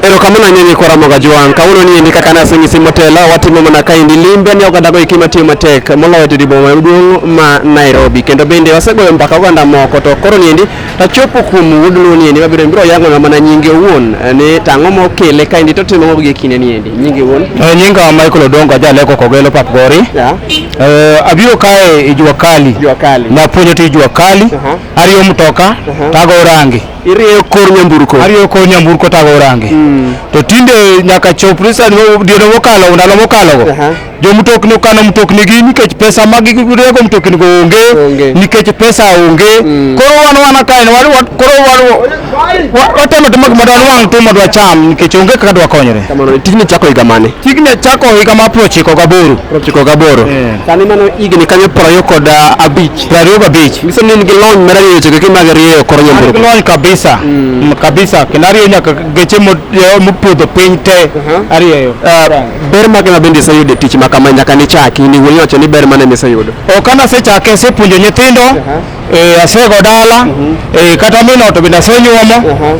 erokamano ahinya ni kora moga jwang' kawuono ni endi kaka naseng'isi motela watimo mana kaendi limbe ni oganda goeki matiyo matek moloyo to diboma maduong' ma nairobi kendo bende wasegoyo mbaka oganda moko to koro ni endi tachopo kuom wuod luo ni endi mabiro biro yang'ona mana nyinge owuon eh, ni tang'o mokele kaendi totimo mago gi kinde ni endi nyinge owuon Eh, nyinga Michael Odongo ajaleko Kogelo Papgori. Yeah. Eh, abiro kae e jua kali. Jua kali. Napuonjo tij jua kali. Aha. Ariyo mtoka, tago rangi. irieyo kor nyamburko arieyo kor nyamburko tago orange mm. to tinde nyaka chop risa diono mokalo ndalo mokalo go uh -huh. jo mtokni okano mtokni gi nikech pesa ma gi rego mtokni go onge okay. nikech pesa onge mm. koro wan wana kae wan wan koro wan watemo timo gima dwan wang timo dwa cham nikech onge kaka dwa konyre kamano tijni chako higa mane tijni chako higa ma prochiko gaboro prochiko gaboro yeah. sani mano higni kanyo proyo kod uh, abich Prariyo kabich. Nyiso ni in gi lony mar rieyo chike kendo mag rieyo kor An gi nyamburko. lony kabisa Mm, kabisa kendo arieyo nyaka geche mo- eh, mopodho piny te Aha. arieyo Ah, Ber mage ma bende iseyudo e tich ma kama nyaka nichaki ni wuoyi wacho ni ber mane miseyudo. ok an asechake asepuonjo nyithindo eh, asego dala eh, kata mino to bende asenyuomo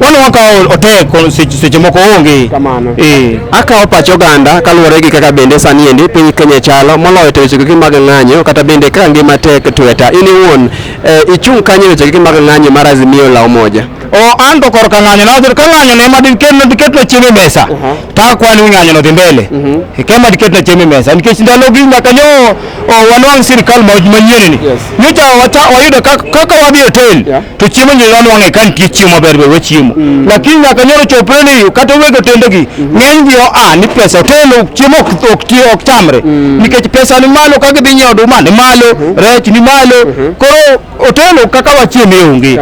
Wano wakawo otek seche moko onge kamano. Eh. Akawo pach oganda kaluwore gi kaka bende sani endi piny Kenya chalo moloyo to weche kiki mag ng'anyo kata bende kaka ngima tek tweta. In iwuon eh, ichung' kanye weche kiki mag ng'anyo mar Azimio la Umoja? O an to korka ng'anyo na ka ng'anyo ne ma diket no diket no chiemo mesa. Uh-huh. Ta kwani ng'anyo no dhi mbele. Uh-huh. Kema diket no chiemo mesa nikech ndalo gi nyaka nyo wanwang' sirikal manyien ni nyocha wayudo kaka wadhi e hotel to chiemo nyo wanwang'e ka nitie chiemo maber ber wachiemo mm. lakini nyaka nyoro chopre ni kata weg otendegi mm. ng'eny gi oa ni pesa hotel chiemo ok chamre mm. nikech pesa ni malo ka gidhi nyiewo oduma ni malo mm-hmm. rech ni malo mm-hmm. koro hotel kaka wachiemo e onge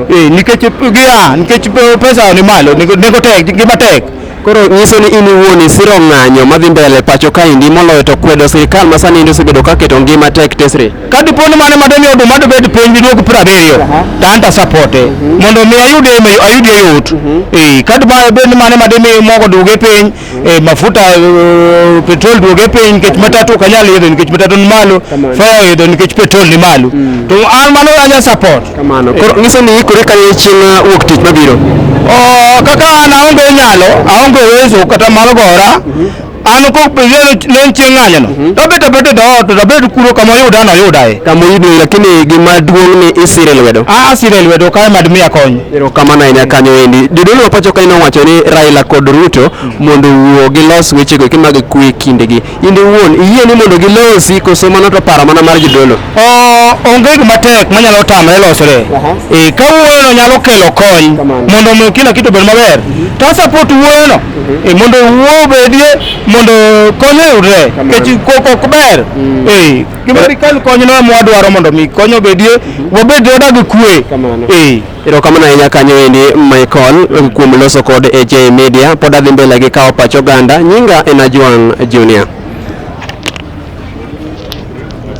eh, nikech gia nikech pesa ni malo nengo tek gima tek Koro nyiso ni in iwuon isiro ng'anyo madhi mbele pacho kaendi moloyo to kwedo sirkal ma sani osebedo ka keto ngima tek tesre. Ka dipo ni mano madoni oduma dobed piny diduog piero abiriyo to an to asapote mhm. mondo mi ayud ayud yot. Mhm. Eh, ka dipo bed ni mano madimi mogo duoge piny, mhm. eh, mafuta eh, petrol duoge piny nikech matatu ok anyal idho nikech matatu ni malo, fare idho nikech petrol ni malo. To an mano anya support. Kamano. Koro nyiso ni ikore kane chieng' uh, wuok tich mabiro. Oh, kaka an aonge nyalo, aonge uwezo kata mar gora. An ko pejelo len chieng' ng'anyo no. Mhm. To bete bete do to to bete kuro kama yuda no yuda e. Kama yudo lakini gima duong' ni isire lwedo. A asire lwedo kae mad miya kony. Ero kamano ahinya kanyo endi. Jodolo pacho kae nowacho ni Raila kod Ruto mhm. mondo wuo gilos wechego kimag kwe kindegi. in iwuon iyie ni mondo gilosi koso mano to paro mana mar jodolo onge gima tek manyalo tamre losre e, ka wuoyono nyalo kelo kony mondo omi kila kitu obed maber mhm. to asapot wuoyono mhm. e, mondo wuo obedie mondo kony oyudre nikech koko ok ber mm. e, gima dikal konyno emwadwaro mondo mi kony obedie mhm. wabed jodag kwe Erokamano ahinya kanyo endi Michael kuom loso kod AJ Media. Pod adhi mbele gi kawo pach oganda. Nyinga en Ajwang' Junior.